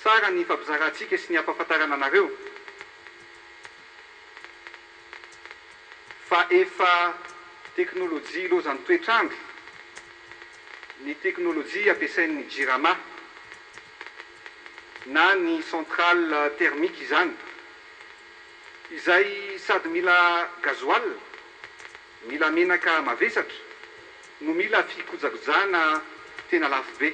Tsara ny ifampizarantsika sy ny ampahafantarana anareo fa efa teknolojia ilaozan'ny toetr'andro ny teknolojia ampiasain'ny Jirama na ny centrale thermique izany izay sady mila gasoil, mila menaka mavesatra no mila fikojakojana tena lafo be.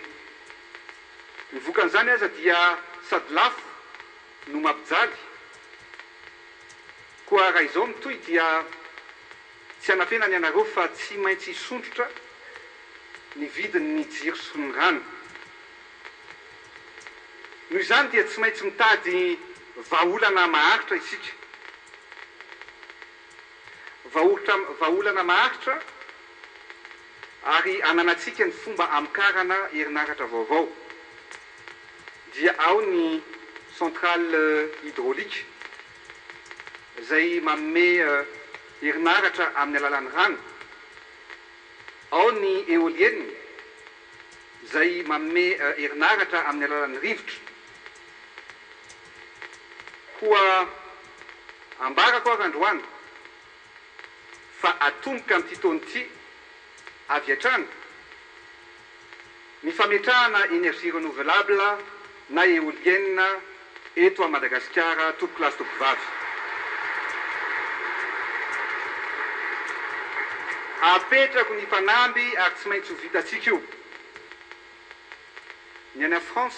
Ny vokan'izany aza dia sady lafo no mampijaly. Koa raha izao mitohy dia tsy hanafenany ianareo fa tsy maintsy hisondrotra ny vidin'ny jiro sy ny rano. Noho izany dia tsy maintsy mitady vahaolana maharitra isika. Vahotra, vahaolana maharitra ary ananantsika ny fomba hamokarana herinaratra vaovao dia ao ny centrale hydraulique izay manome herinaratra amin'ny alalan'ny rano, ao ny éolienne izay manome herinaratra amin'ny alalan'ny rivotra. Koa ambarako ary androany fa atomboka amin'ity taona ity avy hatrany ny fametrahana énergie renouvelable na éolienne eto à Madagasikara tompoko lahy sy tompoko vavy. Apetrako ny mpanamby ary tsy maintsy ho vitantsika io. Ny any France